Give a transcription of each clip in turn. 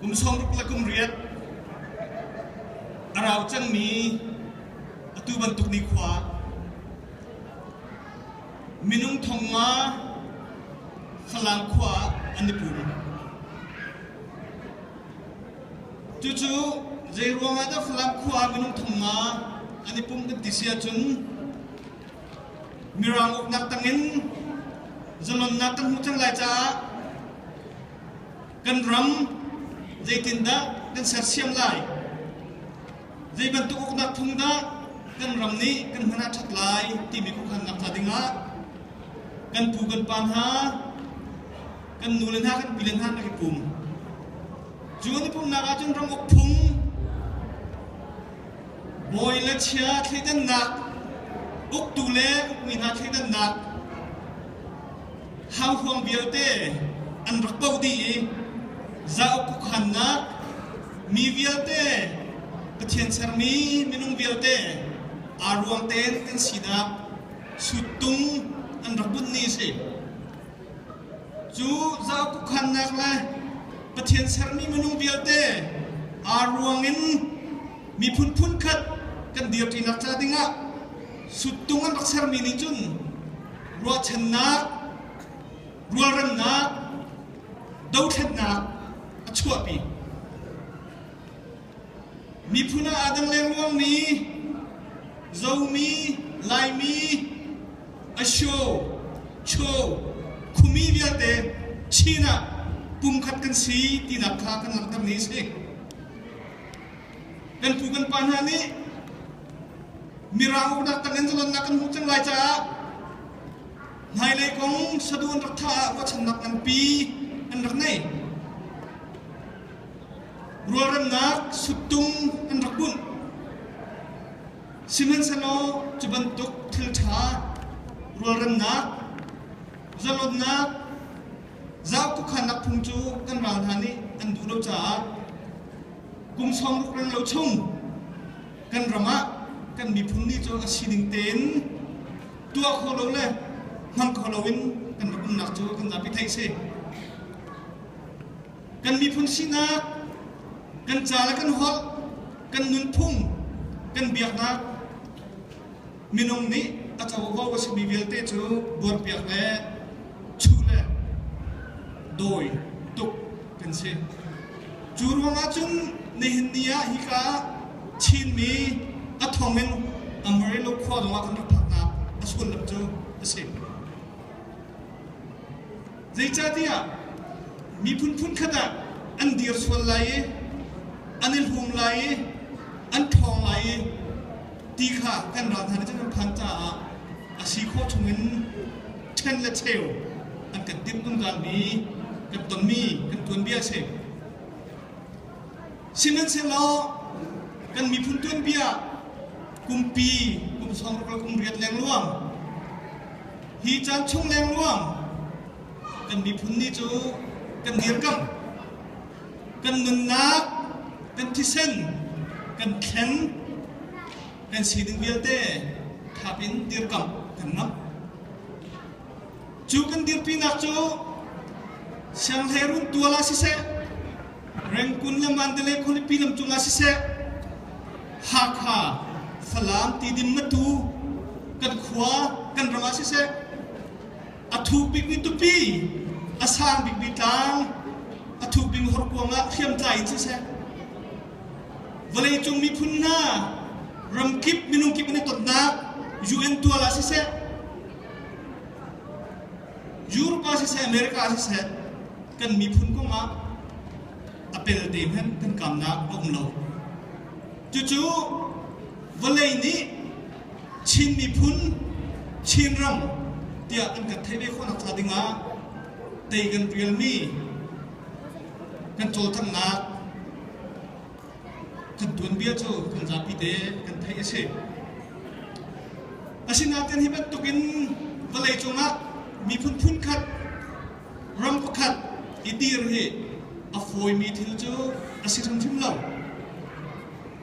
Kum sawm rupala kum riat a rau cangmi atu bantuk nikhua minung thong nga Falang khua ah an i pum. Cucu zei ruangah dah Falam khua ah minung thong nga an i pum kan ti si ahcun Mirang uknak tangin zalonnak kan hmu cang lai caah kan ram zeitindah kan sersiam lai? Zei bantuk uknak phung dah kan ram nih kan hman ah ṭhat lai timi khuakhannak ca dingah kan pu kan pa hna, kan nu le hna, kan pi le hna kan i pum. Cu kan i pumnak ahcun ram uk phung Bawi le chia thleidannak, uktu le ukmi hna thleidannak, hanghuang vialte an rak doh dih i zauk kukhannak, mi vialte, Pathian sermi minung vialte aa ruang ten an sinak suttung an rak bunh ni a si. Cu zaukukhannak le Pathian sermi minung vialte aa ruang in miphun phunkhat kan dirṭinak ca dingah suttung an rak sermi nih cun ruahchannak, rualremnak, dothlennak a chuahpi. Miphun ah aa dang lengluangmi, zomi, Laimi, asho, cho, khumi vialte Chin ah pumkhat kan si tinak kha kan langhtermi a si. Kan pu kan pa hna nih mirang uknak tangin zalannak kan hmuh cang lai caah hmailei kong sadu an rak thah ah ruahchannak nganpi an rak nei. Rualremnak suttung an rak bunh. Sihmanhsehlaw cu bantuk thil ṭha, rualremnak, zalonnak, zau khuakhannak phung cu kan ral hna nih an duh lo caah kum sawm ruk renglo chung kan ram ah kan miphun ni cu a sining tein tuah kho lo le hmang kho lo in kan rak umnak cu kan zapi theih a si. kan miphun sinah kan ca le kan holh kan nunphung kan biaknak minung nih a covo ka simi vialte cu buarpiak le chuh le dawi tuk kan si cu ruangah cun nihin ni ah hika Chinmi a thongin Amarillo khua zongah kan lut phaknak a sullam cu a si. Zeicahtiah miphun phunkhat ah an dir sual lai i an i hlum lai i an ṭhawng lai i ti kha kan ral hna nih cun an phan caah a si khawh chungin ṭhen le cheu an kan timh zungzalmi kan tonmi kan tuanbia a si. Sihmanhsehlaw kan miphun tuanbia kumpi kum sawm ruk le kum riat lengluang Hi caan chung lengluang kan miphun nih cu kan dirkamh, kan nunnak, kan thisen, kan thlen, kan sining vialte thap in dirkamh kan ngam. Cu kan dirpinak cu sianghleiruun tual ah siseh, Rengkun le Mandalay khualipi lam cungah siseh, Hakha, Falam tidin na tu, kan khua, kan ram ah siseh, a thu bikmi tupi, a sang bikmi tlang, a thu bing horkuang ah hriamtlai in siseh, vawleicung miphun hna, ramkip minung kip an i tonnak UN tual ah siseh, Europe ah siseh, America ah siseh, kan miphun kong ah a pelte hmanh kan kamnak a um lo. Cucu vawlei nih Chin miphun, Chin ram tiah kan kan theih ve khawhnak hnga ding ah tei kan rialmi kan cawlcanghnak Kan tuanbia cu kan zapi te kan theih a si. Asinain hi bantukin vawlei cungah miphun phun khat, ram pakhat i dir hi a fawimi thil cu a si hrimhrim lo.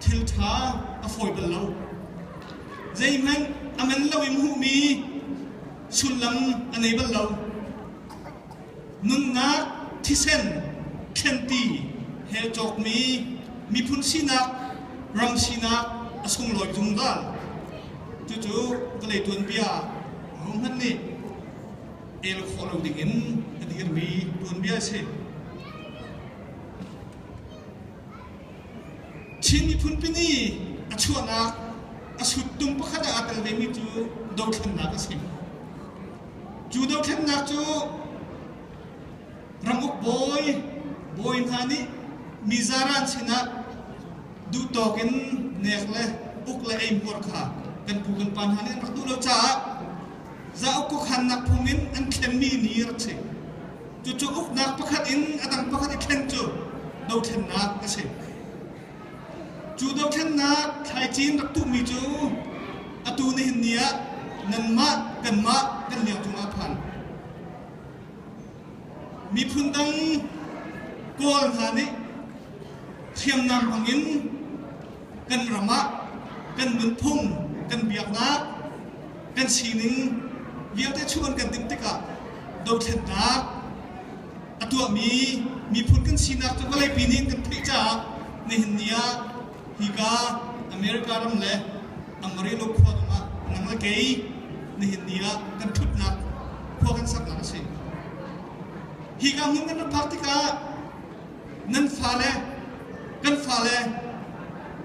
Thil ṭha a fawi bal lo. Zeihmanh a man lo in hmuhmi sullam a nei bal lo. nunnak thisen thlenpi he cawkmi miphun sinak ram sinak a sunglawi zungzal cucu vawlei tuanbia hohmanh nih el khawh lo dingin a dir mi tuanbia a si Chin miphun pini a chuahnak a suttung pakhat ah aa tel vemi cu dothlennak a si. Cu dothlennak cu ranguk bawi bawi hna nih mi zaran sinah duhtawk in nek le uk le eimpuar kha kan pu kan pa hna nih an rak duh lo caah zauk kukhannak phung in an thlenmi ni a rak si. Cucu uknak pakhat in a dang pakhat i thlen cu dothlennak a si. Cu dothlennak thlaicin rak tuhmi cu atu nihin ni ah nanmah kanmah kan liang cungah a phan. Miphun dang Kawl hna nih hriamnam hmangin kan ram ah kan nunphung, kan biaknak, kan sining vialte chuh an kan timh tikah dothlennak, a tuahmi miphun kan sinak cu vawleipi nih kan theih caah nihin ni ah hika America ram le Amarillo khua dong ah nang le kei nihin ni ah kan ṭhutnak khua kan saknak a si. Hika hmun kan ram phak tikah nan fale kan fale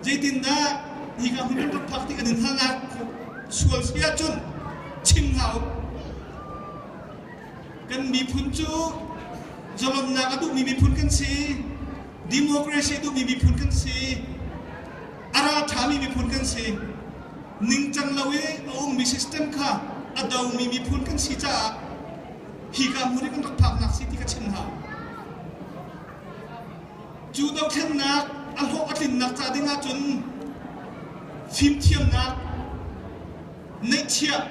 zeitindah hika hmun kan ram phak tikah nan halnak sual si ahcun chim hna u. Kan miphun cu zalonnak a duhmi miphun kan si. Democracy a duhmi miphun kan si. A ral ṭhami miphun kan si. Ningcang lo i a ummi system kha a domi miphun kan si caah hika hmun i kan rak phaknak si ti ka chim hna. Cu dothlennak a hlawh a tlinnak ca ding ahcun fimthiamnak, Neihchiah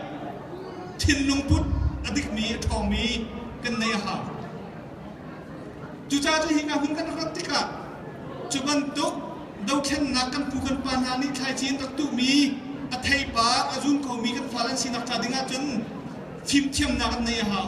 thinlungput a dikmi a ṭhawngmi kan neih a hau. Cucaah cu hi hna hun kan rat tikah cu bantuk dothlennak kan pu kan pa hna nih thlaici an rak tuhmi a theipar a zun komi kan fale an sinak ca ding ahcun fimthiamnak an nei a hau.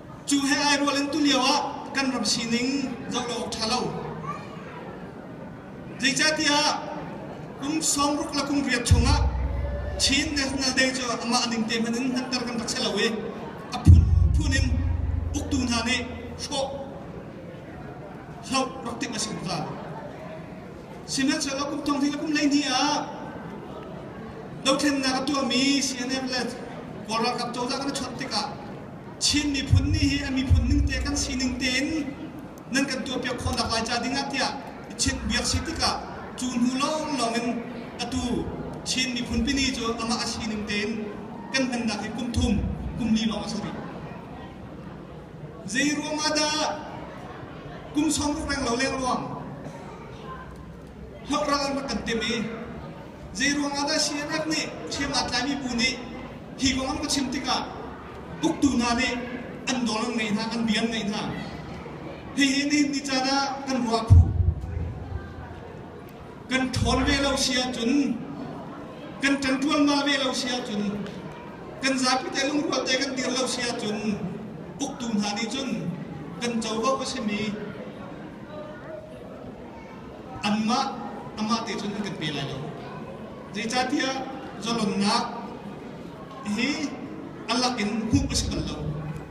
Cu he ai rual in tulio ah kan ram sining zoh lo awk ṭha lo. Zeicatiah kum sawmruk le kum riat chung ah Chin National Day cu amah ning te hmanh in hmanter kan rak si lo i a phunphun in uktu hna nih hrawh hloh rak timh a si zungzal. Sihmanhsehlaw kum thong thing le kum hleihnih ah dothlennak a tuahmi CNF le Kawl ralkap cozah kan i chawnh tikah Chin miphun nih hi a miphun ningte kan sining tein nan kan tuahpiak khawhnak lai ca dingah tiah biak si tikah cu hnu lawng in atu Chin miphun pini cu amah a sining tein kan hmannak hi kum thum, kum li lawng a si rih. Zei ruang ah dah kum sawm ruk reng lo lengluang hlok ral an kan tim i zeiruang ah dah CNF nih hriam aa tlaimi bu nih hi kong an ka chim tikah uktu hna nih an dawr an ngei hna an bia an ngaih hna hihi nihin ni caan ah kan ruah phu kan ṭhawn ve lo si ahcun kan ṭanṭuan ma ve lo si ahcun kan zapi te lungrual te kan dir lo si ahcun uktu hna nih cun kan covo a simi anmah amah te cun an kan pe lai lo zeicahtiah zalonnak hi Allah in hmuh a si bal lo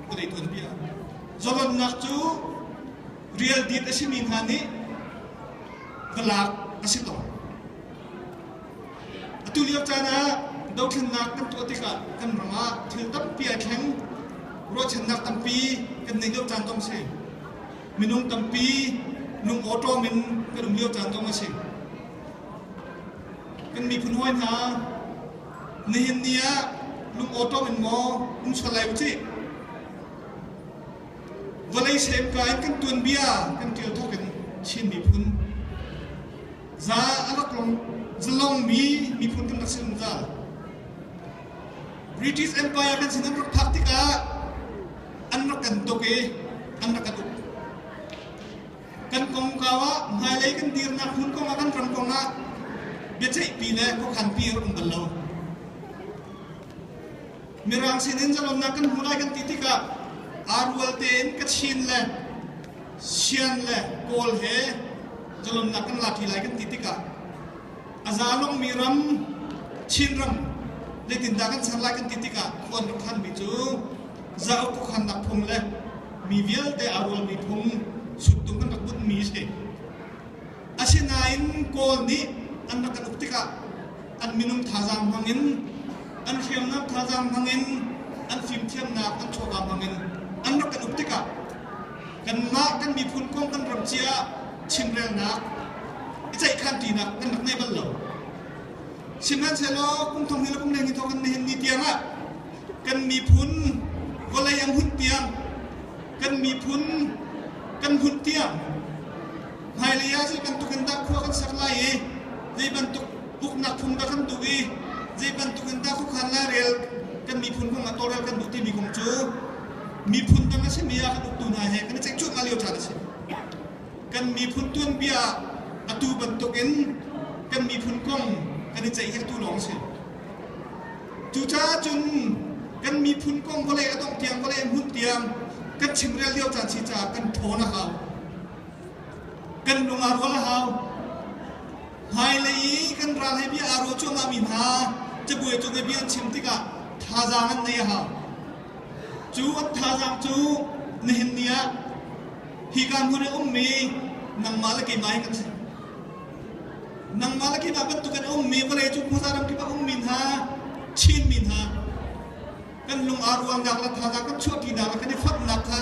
ka dei tuan bia zalonnak cu real deed a simi hna nih va lak a si tawn atu lio caan ah dothlennak kan tuah tikah kan ram ah thil tampi ai thleng ruahchannak tampi kan nei deuh caan tong si minung tampi lungawṭawm in kan um lio caan kong a si. Kan miphun hawi hna, nihin ni ah lungawṭawm in maw um sual lai ucih. Vawlei semka in kan tuanbia kan ṭial thawk in Chin miphun za a rak long zalong mi miphun kan rak si zungzal. British Empire kan sin an rak phak tikah an rak kan tuk i an rak kan uk. Kan kongkau ah hmailei kan dirnak hmun kong ah kan ram kong ah biaceihpi le khuakhanpi rak um bal lo. Mirang sin in zalonnak kan hmu lai kan ti tikah aa rual tein Kachin le Sian le Kawl he zalonnak kan lati lai kan ti tikah A zalungmi ram, Chinram, zeitindah kan ser lai kan ti tikah khuan kan khanmi cu zauk kukhannak phung le mi vialte aa rualmi phung suttung kan rak bunhmi a si. Asinain Kawl nih an rak kan uk tikah an minung thazaang hmangin, an hriamnam thazaang hmangin, an fimthiamnak an chuahka hmangin an rak kan uk tikah kanmah kan miphun kong kan ram cia chimrelnak i ceihkhanṭinak kan rak ngei bal lo. Sihmanhsehlaw kum thong hi le kum neng thong kan nihin ni tiangah kan miphun vawlei an hunh tiang kan miphun kan hunh tiang hmailei ah zei bantuk in dah khua kan sak lai i zei bantuk uknak phung dah kan duh i zei bantuk in dah khuakhan lai rel kan miphun kong a tawlrel kan duh timi kong cu miphun dang a simi ah kan uktu hna he kan i ceih cuahmah lio caan a si. Kan miphun tuanbia atu bantukin kan miphun kong kan i ceihhertu lawng a si. Cucaah cun kan miphun kong vawlei a dongh tiang vawlei hmun tiang kan chimrel lio caan si caah kan ṭhawn a hau. Kan lung aa rual a hau. Hmailei i kan ral he bia aa ruah cuahmahmi hna cabuai cung i bia an chim tikah thazaang an ngei a hau. Cu a thazaang cu na him ni ah hika hmun i a ummi nangmah le keimah hi kan si. Nangmah le keimah bantukin a ummi vawlei cu khuaza ram kip a ummi hna, Chinmi hna, kan lung aa ruangnak le thazaang kan chuahṭinak le kan i fonhnak kha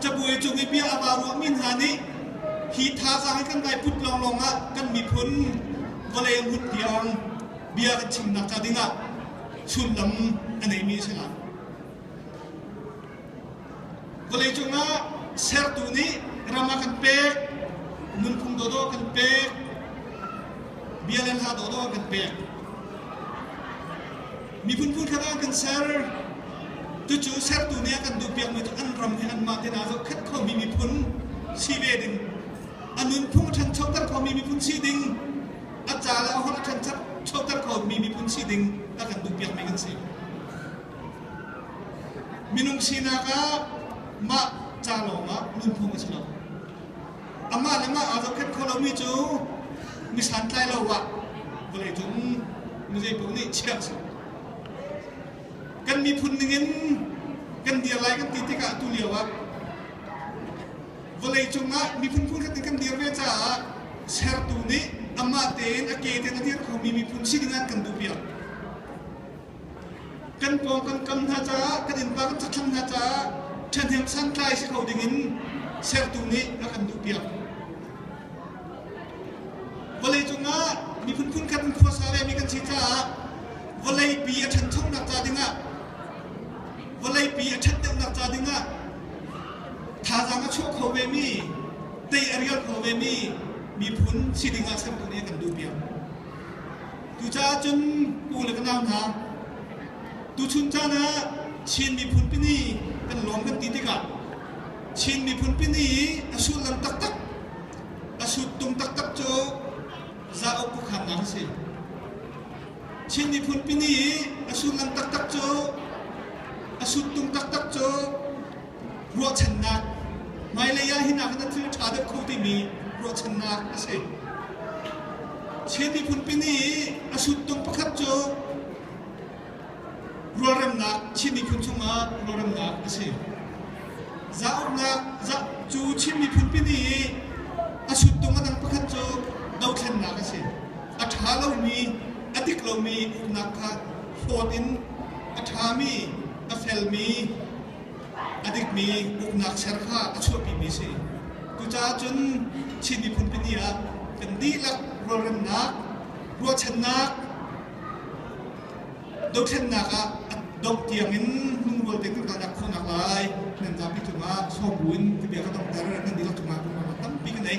cabuai cung i bia a vaa ruahmi hna nih hi thazaang hi kan daiput lawnglawng ah kan miphun vawlei a hmut tiang bia kan chimnak ca dingah sullam a neimi a si lai. Vawleicung ah sertu nih ram a kan pek, nunphung dawdawh kan pek, bia le hla dawdawh kan pek. Miphun phun khat ah kan ser. Tucu sertu nih a kan duhpiakmi cu an ram hi anmah te aa zohkhat khomi miphun si ve ding, a nunphung a ṭhanchoter khomi miphun si ding, a ca le a holh a ṭhenchep choter khomi miphun si ding a kan duhpiakmi kan si. Minung sinak ah mah ca lawngah lungphung a si lo. Amah le mah aa zohkhenh kho lomi cu mi santlai lo ah vawlei cung mi zeipaoh nih chiah a si. Kan miphun ningin kan dir lai kan ti tikah atu lio ah vawlei cungah miphun phunhrat in kan dir ve caah sertu nih amah tein a ke tein a dir khomi miphun si ding an kan duhpiak. Kan pawng kan kam hna caah, kan innpa kan cakthlang hna caah ṭhahnem santlai si kho dingin sertu nih a kan duhpiak. Vawlei cungah miphun phunkhat in khuasa vemi kan si caah vawleipi a ṭhanchonak ca dingah vawleipi a ṭhat deuhnak ca dingah Thazaang a chuah kho vemi, tei a rial kho vemi miphun si ding ah sertu nih kan duh piak. Cucaah cun pu le ka nau hna, tuchun caan ah Chin miphun pini kan lawm kan ti tikah Chin miphun pini i a sullam taktak, a suttung taktak cu zauk pukharnak a si. Chin miphun pini i a sullam taktak cu, a suttung taktak cu ruahchannak, hmailei ah hinak na thil ṭha deuh kho timi ruahchannak a si. Chin miphun pini a suttung pakhat cu rualremnak, Chin miphun chungah rualremnak a si. Za uknak, za, cu Chin miphun pini i a suttung a dang pakhat cu dothlennak a si. A ṭha lomi, a dik lomi uknak kha hlawt in a ṭhami, a felmi, A dikmi uknak ser kha a chuahpimi a si. Cucaah cun Chin miphun pini ah kan dihlak rualremnak, ruahchannak, dothlennak ah dongh tiangin lungrual tein kan kalnak khawhnak lai nan zapi cungah sawm buin ka bia ka donghter nan dihlak cungah lungrual tampi ka nei.